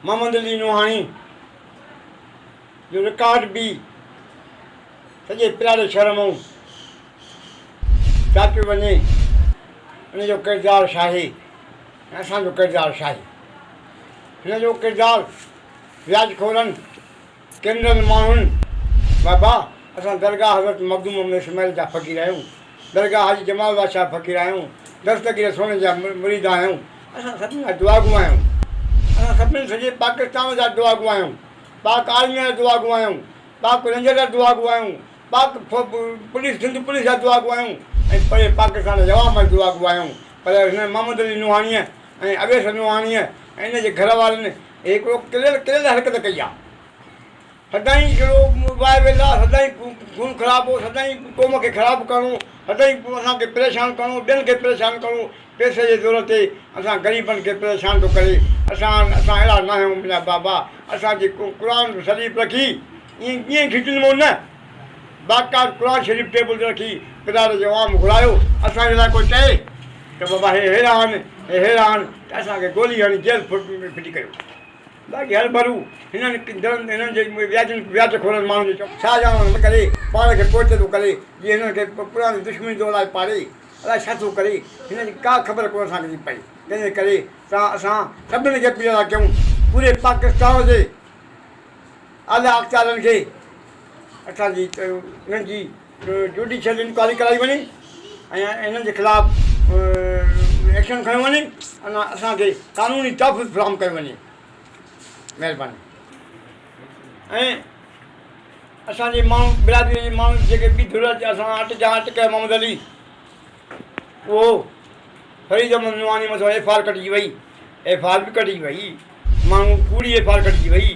محمد علي نوحاڻي جو رڪارڊ به سڄي پلاڙي شهر مون چاٽيو وڃي ان جو ڪردار شاهي ۽ اسان جو ڪردار شاهي هن جو ڪردار وياج خورن ڪينرل ماڻهن، بابا! اسان درگاهه حضرت مخدوم محمد اسماعيل جا فقير آهيون. درگاهه حاجي جمال بخش جا فقير آهيون. دستگير سوڻي جا مريد آهيون. اسان سڀني جا دعاگو آهيون. اسان سڀني سڄي پاڪستان جا دعاگو آهيون. پاڪ آرميء جا دعاگو آهيون. پاڪ رينجر جا دعاگو آهيون. پاڪ پوليس سنڌ پوليس جا دعاگو آهيون ۽ پري پاڪستان جي عوام جا دعاگو آهيون. پر هن محمد علي نوحاڻيء ۽ اويس نوحاڻيء ۽ ان جي گهر وارن هڪڙو کليل کليل حرڪت ڪئي آ سدائين جهڙو وائي ويلا سدائين خون خرابو سدائين قوم کي خراب ڪرڻو سدائين اسان کي پريشان ڪرڻو ٻين کي پريشان ڪرڻو پئسي جي زور تي اسان غريبن کي پريشان ٿو ڪري اسان اسان اهڙا ناهيون منهنجا بابا اسان جي قرآن شريف رکي ائين ائين کٽنمون نه باقاعد قرآن شريف ٽيبل تي رکي پلار جو عام گهرايو، اسان جي لاء ڪوئي چئي ته بابا هي هيرا آهن، هي هيرا آهن ته اسان کي گولي هڻي جيل ڦٽي ڪيو. باقي هرڀرو هنن ڪندرن هنن جي وياجن وياج خورن ماڻهن جو چوڻ. ڇا ڄاڻن نه ڪري پاڻ کي پوئتي ٿو ڪري جي هنن کي پراڻي دشمني ٿو الائي پاڙي الائي ڇا ٿو ڪري هنن جي ڪا خبر ڪونه اسان کي ٿي پئي تنهنجي ڪري تان اسان سڀني کي اپيل ٿا ڪيون پوري پاڪستان جي اعليٰ اختيارين کي اسان جي انهن جي جوڊيشل انڪوائري ڪرائي وڃي ۽ انهن جي خلاف ايڪشن کنيو وڃي ۽ اسان کي قانوني تحفظ فراهم ڪيو وڃي مهرباني ۽ اسان جي ماڻهو برادري جي ماڻهو جيڪي ٻي ڌر جا اسان اٽ جا اٽ ڪيو محمد علي اهو فريد احمد نعماني مٿان ايف آر ڪٽجي وئي ايف آر به ڪٽجي وئي ماڻهو ڪوڙي ايف آر ڪٽجي وئي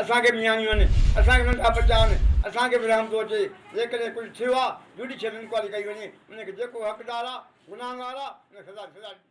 اسان کي مياڻيون آهن، اسان کي ننڍا ٻچا آهن، اسان کي به رحم ٿو اچي، جيڪڏهن ڪجهه ٿيو آهي، جوڊيشل انڪوائري ڪئي وڃي، ان کي جيڪو حقدار آهي، گناهگار آهي، ان کي سزا ڏني وڃي.